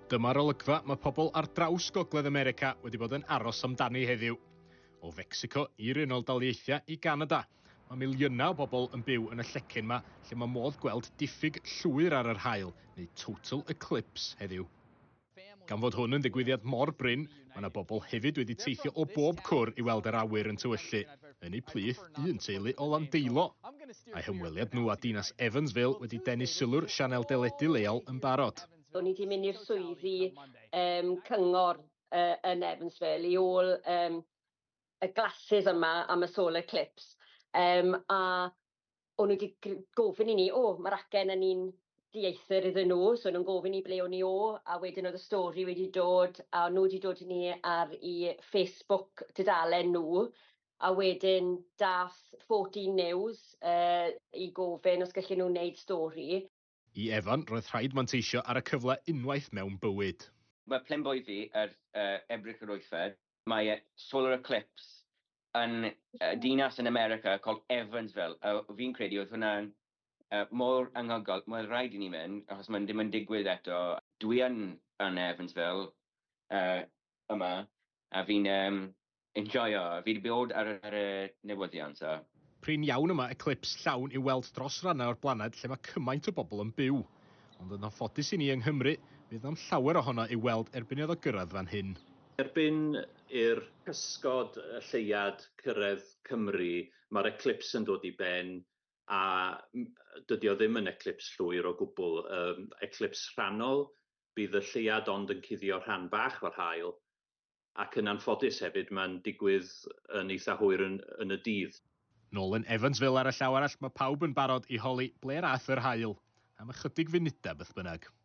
Dyma'r olygfa mae pobl ar draws Gogledd America wedi bod yn aros amdani heddiw. O Fecsico i'r Unol Daleithiau i Ganada, mae miliynau o bobl yn byw yn y llecyn yma lle mae modd gweld diffyg llwyr ar yr haul, neu total eclipse, heddiw. Gan fod hwn yn ddigwyddiad mor brin, Mae yna bobl hefyd wedi teithio o bob cwr i weld yr awyr yn tywyllu yn eu plith, un teulu o Landeilo. Mae hymweliad nhw â dinas Evansville wedi denu sylw'r sianel deledu leol yn barod. O'n i wedi mynd i'r swyddi um, cyngor uh, yn Evansville i ôl um, y glasses yma am y solar eclipse. Um, a o'n nhw wedi gr- gofyn i ni, o, mae'r acen yn un dieithr iddyn nhw, so o'n nhw'n gofyn i ble o'n i o, a wedyn oedd y stori wedi dod, a nhw wedi dod i ni ar i Facebook dudalen nhw, a wedyn dath 14 News uh, i gofyn os gallen nhw wneud stori, I Evan, roedd rhaid manteisio ar y cyfle unwaith mewn bywyd. Mae Plenboiddi ar Ebrill yr wythfed. Mae solar eclipse yn dinas yn America called Evansville a fi'n credu oedd hwnna mor anghygol, mae rhaid i ni mynd achos mae'n ddim yn digwydd eto. Dwi yn yn Evansville yma a fi'n Enjoio. Fi 'di bod ar y newyddion so. Prin iawn y mae eclips llawn i'w weld dros rannau o'r blaned lle mae cymaint o bobl yn byw. Ond yn anffodus i ni yng Nghymru, fydd na'm llawer ohono i'w weld erbyn iddo gyrraedd fan hyn. Erbyn i'r cysgod y lleuad cyrraedd Cymru, mae'r eclips yn dod i ben, a dydy o ddim yn eclips llwyr o gwbl. Eclips rhannol, bydd y lleuad ond yn cuddio rhan bach o'r haul, ac yn anffodus hefyd mae'n digwydd yn eitha hwyr yn yn y dydd. Nolan Evansville ar y llaw arall, mae pawb yn barod i holi ble 'r a'th yr haul, am ychydig funudau beth bynnag.